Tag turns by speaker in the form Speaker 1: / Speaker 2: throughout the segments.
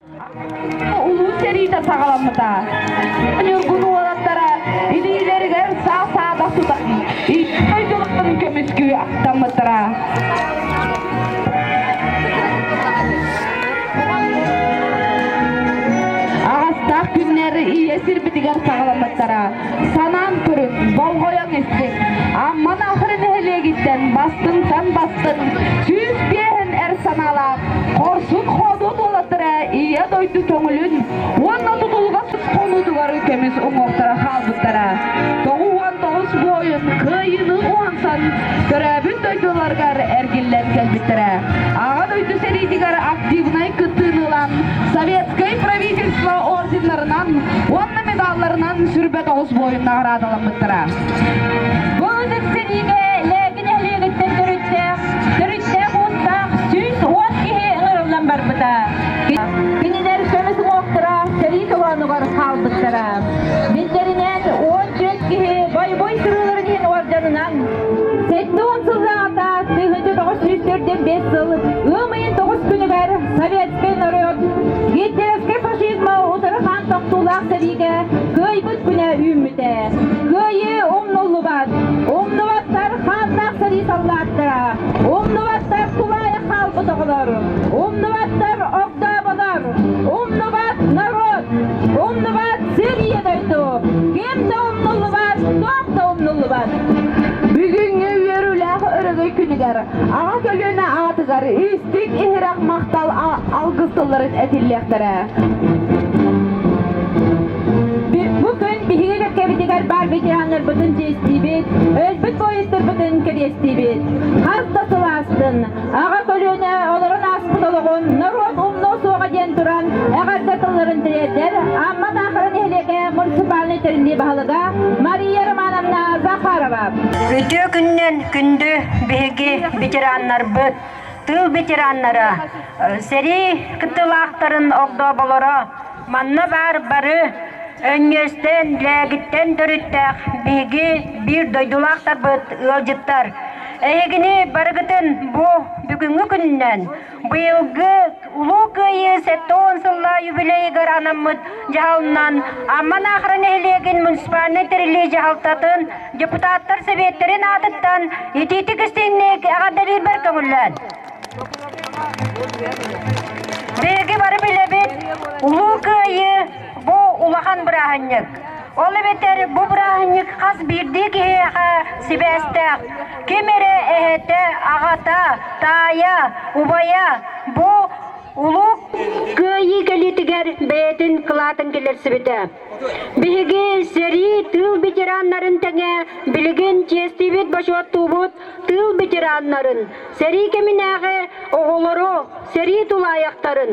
Speaker 1: Улуу сэриитэ саҕаламмыта. Ньургун уолаттара илиилэригэр саа-саадах тутан икки дойдуларын көмүскүү аттаммыттара. Аҕастаах күннэр ийэ сирбитигэр саҕаламмыттара. Санаан көрүн, болҕойон истик. Амман Ахыры нэһилиэгиттэн бастыҥтан бастыҥ сүүс биэһин эр санаалаах хорсун хоодуот уолаттара Ийэ дойду көҥүлүн уонна тутулҕасын хонуутугар көмүс уҥуохтара хаалбыттара. Тоҕус уон тоҕус буойун кыайыыны уһансан төрөөбүт дойдуларыгар эргиллэн кэлбиттэрэ. Аҕа дойду сэриитигэр активнай кыттыыны ылан Советскай правительство орденнарынан уонна медалларынан сүрбэ тоҕус буойун наҕараадаламмыттара. Бу ытык лээгин эһиэгиттэн төрүттээх, төрүттээх уустаах сүүс уон киһи ыҥырыллан барбыта. Кинилэр көмүс уҥуохтара сэрии толоонугар хаалбыттара. Биллэринэн он түөрт киһи бойбой сырыыларын иһин орденынан 78 сыллааҕыта тыһыынча тоҕус сүүс төрдүн бес сыл ыам тоҕус күнүгэр советскай норуот гитлеровскай фашизма утары хаан тохтуулаах сэриигэ кыайбыт күнэ үүммүтэ. Кыайыы умнуллубат. Умнубаттар хааннаах сэрии саллааттара. Умнубаттар тулаайах хаалбыт оҕолор. Умнубаттар огдооболор. Умнубат народ. Умнубат сэрии дойду. Ким да умнуллубат, дом да умнуллубат. бүгүҥҥү үөрүүлээх өрөгөй күнүгэр Аҕа көлүөнэ аатыгар истиҥ иһирэх махтал алгыс тылларын этиллиэхтэрэ. Бу күн биһиги кэккэбитигэр баар ветераннарбытын чиэстиибит, өлбүт поездтарбытын кэриэстиибит. Хас да сыл аастын, аҕа көлүөнэ олорон ааспыт олоҕун норуот умнуо суоҕа диэн туран эҕэрдэ тылларын тириэрдэр Амма Таахара нэһилиэгэ муниципальнай тэриллии баһылыга Мария Романовна Захарова. Үтүө күннэн Күндү биһиги ветераннарбыт, тыыл ветераннара, сэрии кыттыылаахтарын огдооболоро, манна баар бары өҥүөстэн, лээгиттэн төрүттээх биһиги биир дойдулаахтарбыт ыалдьыттар. Эһигини барыгытын бу бүгүҥҥү күнүнэн Быйылгы Улуу Кыайыы сэттэ уон сыллаа юбилейыгар анаммыт дьаһалынан Амман Аахара нэһилиэгин муниципальнай тэрилии дьаһалтатын депутаттар сэбиэттэрин аатыттан итиитик истиҥник эҕэрдэлиирбэр көҥүллээн. Биһиги бары билэбит Улуу Кыайыы бу улахан бырааһынньык. Ол эбэтэр бу бырааһынньык хас биирдии киһиэхэ сибээстээх. Ким эрэ эһэтэ, аҕата, таайа, убайа бу улуу кыайыы кэлиитигэр бэйэтин кылаатын кэлэрсибитэ. Биһиги сэрии тыыл ветераннарын тэҥэ билигин чиэстиибит бочуоттуубут тыыл ветераннарын, сэрии кэминээҕи оҕолору, сэрии тулаайахтарын,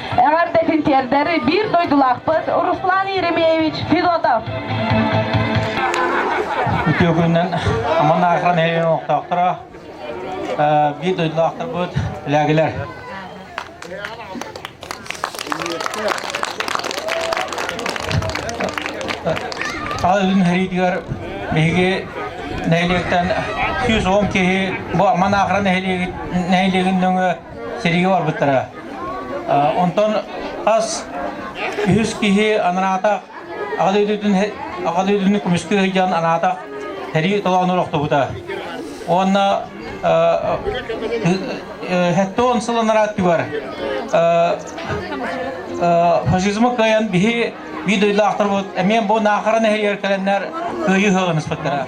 Speaker 1: Эҕэрдэ син тиэрдэр биир дойдулаахпыт Руслан Еремеевич Федотов. Үтүө күнүнэн аман аахан оҥохтоохторо биир дойдулаахтарбыт лээгилэр. Саха үрүн хэриитигэр биһиги нэһилиэктэн 110 киһи бу аман аахан нэһилиэгин нөҥө сэриигэ барбыттара. Онтон хас үһүс киһи анаата аҕа дойдутун көмүскэ сылдьан анаата сэрии толоонур охтубута. Уонна хэттэ он сыл анараа өттүгэр фашизмы кыайан биһи би дойдулаахтарбыт эмиэн бу наахара нэһэйэр кэлэннэр кыайыы сыаламыспыттара.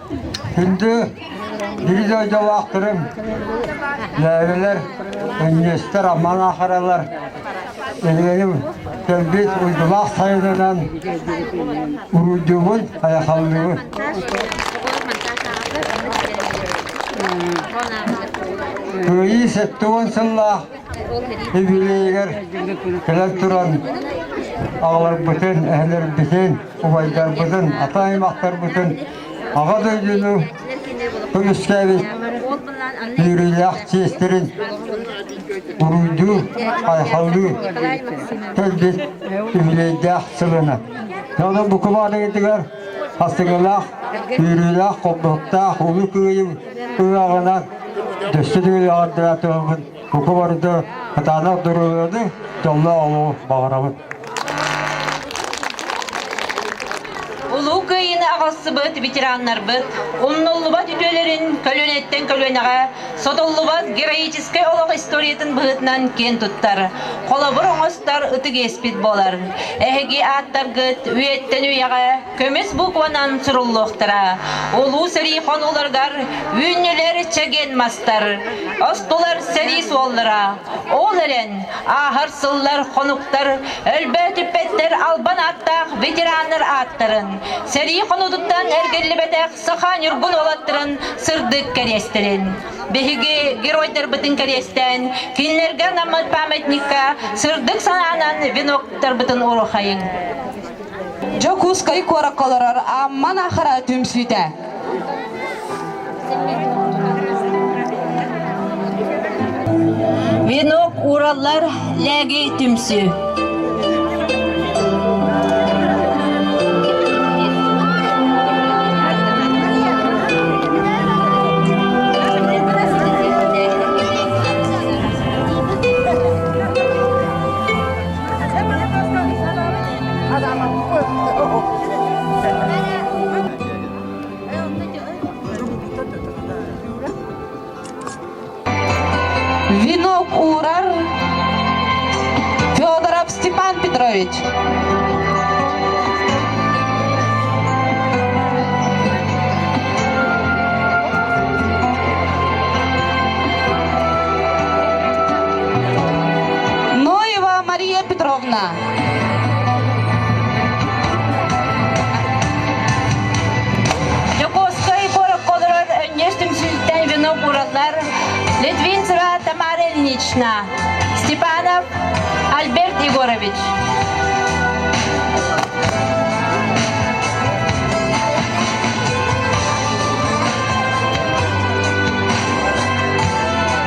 Speaker 1: Күндү бири дойдулаахтарым, лээбэлэр, өнньүөстэр, аман ахаралар, эҥэҥим кэлбит уйдулаах сайынынан уруйдуубун, айахаллыыбын. Кыайыы сэттэ уон сыллаах юбилейыгар кэлэн туран аҕаларбытын, эһэлэрбитин субайдарбытын, ата аймахтарбытын Аҕа дойдуну көмүскээбит үөрүүлээх чиэстэрин уруйдуу, хайхалыы кэлбит үбүлүөйдээх сылына. Дьону букубааныгытыгар астыгылаах, үөрүүлээх, холбоһуктаах улуу кыайым ыаҕынан дөссө түгэл аҕардара туһабын Куку барыта кытаанах доруобуйаны дьолло олуу баҕарабыт. Улуу Кыайыыны аҕалсыбыт ветераннарбыт, умнуллубат үтүөлэрин көлүөнэттэн көлүөнэҕэ, сотуллубат героическай олох историятын быһыытынан киэн туттар, холобур оҥостор ытык иэспит буолар. Эһиги ааттаргыт үйэттэн үйэҕэ көмүс букванан суруллуохтара. Улуу сэрии хонууларгар үүннүлэр чэгиэн мастар, остулар сэрии суоллара. Ол эрэн, ааһар сыллар хонуктар өлбөөтүппэттэр албан ааттаах ветераннар ааттарын, сэрии хонуутуттан эргиллибэтэх саха ньургун уолаттарын сырдык кэриэстэрин. Биһиги геройдарбытын кэриэстээн, кинилэргэ анаммыт памятникка сырдык санаанан веноктарбытын уруохайыҥ. Дьокуускай куоракка олорор Амман Ахара түмсүүтэ. Венок Ураллар лээги түмсүү. Венок урар Федоров Степан Петрович. Ноева Мария Петровна. Дьокуускай борокколорор өнньүс түмсүүттэн венок уураллар Литвинцева Тамара Ильинична, Степанов Альберт Егорович.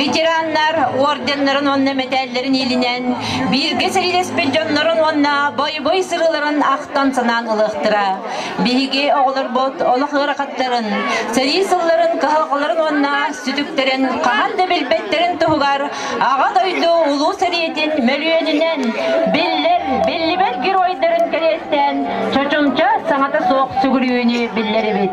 Speaker 1: Ветераннар орденнарын уонна мэтээллэрин иилинэн бииргэ сэриилэспит дьоннорун уонна бойобуй сырыыларын ахтан-санаан ылыахтара. Биһиги оҕолорбут олох ыарахаттарын, сэрии сылларын кыһалҕаларын уонна сүтүктэрин хаһан да билбэттэрин туһугар Аҕа дойду Улуу сэриитин мөлүйүөнүнэн биллэр, биллибэт геройдарын кэриэстэн чочумча саҥата суох сүгүрүйүүнү биллэрэбит.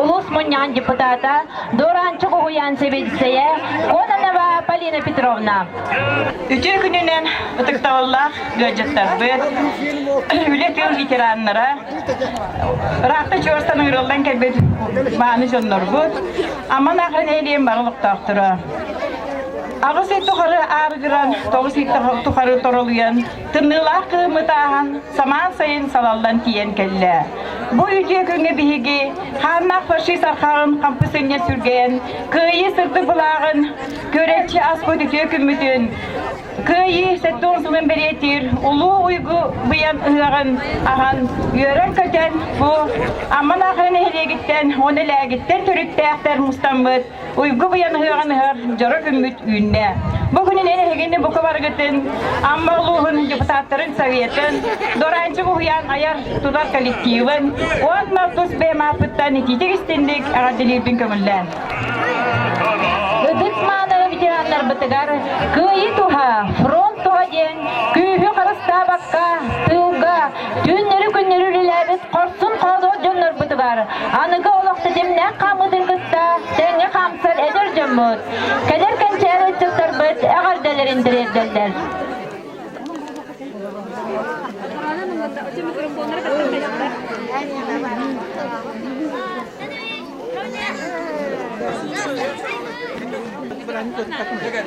Speaker 1: улуус мунньаҕын депутата Дуораанчык уһуйаан сэбиэдиссэйэ Коданова Полина Петровна. Үтүө күнүнэн ытыктабыллаах ыалдьыттарбыт, үлэ тыыл ветераннара, ыраахта чуорсан ыырыллан кэлбит мааны дьоннорбут, Аман ақын элиэн барылыктаахтара. Аҕыс ый тухары аарыгыран, тоҕус ыйдах тухары торолуйан, тымныылаах кыымы тааһан, самаан сайын салаллан тиийэн кэллэ. Бу үтүө күҥҥэ биһиги хааннаах фашист архаҕын хампысынньа сүргэйэн, кыайыы сырдык былааҕын, көрөөччү аспыт үтүө күммүтүн, кыайыы сэттэ уон сылын бэлиэтиир улуу уйгу быйаҥ ыһыаҕын аһан, үөрэн-көтөн бу Амма Наахара нэһилиэгиттэн уонна Лээгиттэн төрүттээхтэр мустаммыт уйгу быйан ыһыаҕыныһар дьоро күммүт үүннэ. Бу күнүн эн эһигини бука барыгытын Амма улууһун депутаттарын советын Доранчы Буһуян айар тутар коллективын уонна тус бэйэмаапыттан итиитик истинник аҕаддилиирбин көмүллээн. Ыдык мааны ветераннарбытыгар кыайыы туһа, фронт туһа диэн күүһү харыстаабакка, тыылга Түүннэри-күннэри үлэлээбит хорсун хоһолоох дьоннорбутугар аныгы олох ситимнээх хаамыытын кытта тэҥҥэ хаамсар эдэр дьоммут, кэлэр кэнчээри ыччаттарбыт эҕэрдэлэрин тириэрдэллэр. Bırakın, bırakın.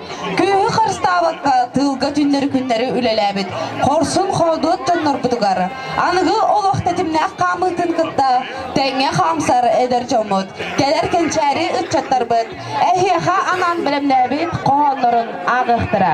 Speaker 1: Кыыһы харыстаабакка тыылга түннэри-күннэри үлэлээбит хорсун-хоодуот дьоннорбутугар аныгы олох тэтимнээх хаамыытын кытта тэҥҥэ хаамсар эдэр дьоммут, кэлэр кэнчээри ыччаттарбыт эһиэхэ анаан бэлэмнээбит хоһооннорун ааҕыахтара.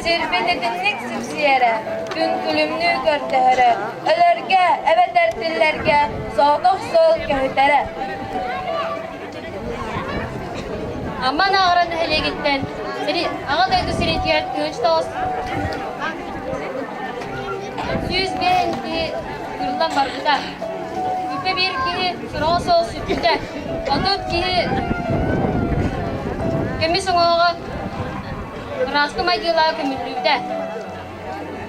Speaker 1: Сirбититинник сипсиэрэ, түҥкүлүмнүү көрдөһөрө, өлөргө эбэтэр тиллэргэ соҕотох суол көһүтэрэ. Аман аҕара нэһилиэгиттэн Аҕа дойду сиритигэр күн тоҕус сүүс биэһинчи ыйыллан барбыта. Бүтэ биир киһи сураҕа суох сүппүтэ. Отут киһи көмүс уҥаҕа Ыраастым айгыылаах көмүллүүтэ.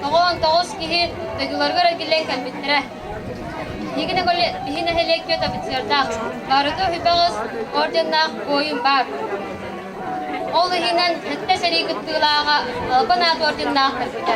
Speaker 1: Тоҕон тоҕус киһи дойдуларыгар эргиллэн кэлбиттэрэ. Игине коле биһи нэһилиэк күөт офицердаах. Барыта хүбэҕис орденнаах буойун баар. Ол иһинэн сэттэ сэрии кыттыылааҕа Албан аат орденнаах көппүтэ.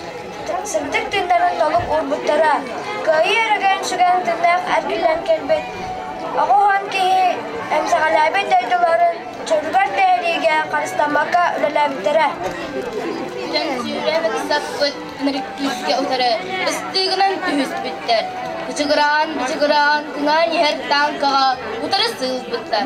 Speaker 1: Сырдык тыыннарын толук уурбуттара. Кыайыы өрөгөйүн сүгэн тыыннаах эргиллэн кэлбит оҕуһун киһи эмсэҕэлээбит дойдуларын чөлүгэр түһэриигэ харыстаммакка үлэлээбиттэрэ. Төлөпсүүлэбит саппыт ынырыктыырга утары ыстыыгынан түһүспүттэр. Бычыгыраан-бычыгыраан тыҥаан иһэр тааҥкаҕа утары сыылбыттар.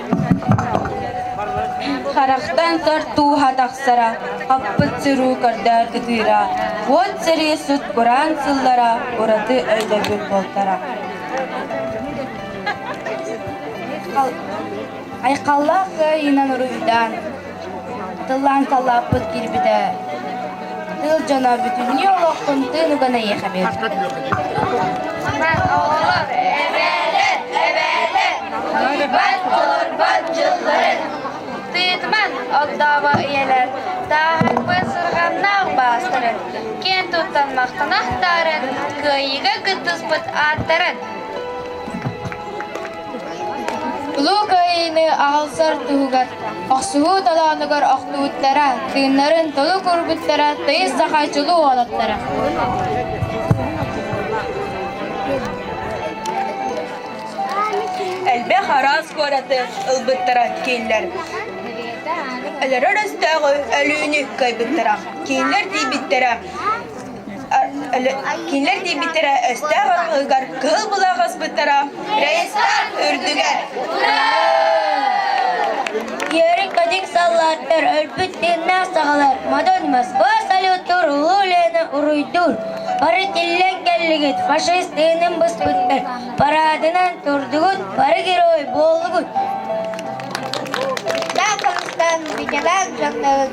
Speaker 1: Харахтан тар тууһа тахсара, хаппыт сырыы көрдөөн ытыыра, уот сэрии сут кураан сыллара ураты өйдөбүл буолтара. Айхаллаах кыайыынан уруйдаан, Тыллаан талааппыт кирбитэ тыл дьоно бүтүннүү олохтун тыын уган эйиэхэ биэрбит. Турбат дьылларын тыытман олдоово ийэлэр таахпыт сырҕаннаах баастарын киэн туттан махтанахтарын кыайыыга кыттыспыт ааттарын Улуу Кыайыыны аҕалсар туһугар охсуһуу толоонугар охтубуттара, тыыннарын толук уурбуттара, тыйыс саха чулуу уолаттара. Элбэх араас куораты ылбыттара киинлэр. Өлөрөр өстөөҕү өлүүнү кыайбыттара. Киинлэр тиийбиттэрэ кинилэр диэбиттэрэ өстөөх арҕыгар кыһыл былаах аспыттара рейстар үрдүгэр Ярик кадик саллааттар өлбүт тыыннаах саҕалар Мадон Москва салют уруулена уруйдуур Бары тиллэн кэллигит фашист тыынын быспыттар Параадынан турдугут бары герой боллугут Даа Казахстан, Бикелак, Жакнавык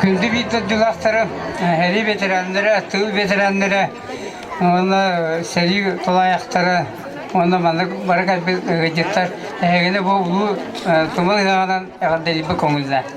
Speaker 1: күндү бииталдьылаахтары, эрий бэтэрээннэрэ, тыл бэтэрээннэрэ уонна сэрии тулаайахтара уонна маннык бары кэлбит ыалдьыттар эһигини бу улуу тумул ыһыаҕынан эҕэрдэлиибэ көҥүллээн.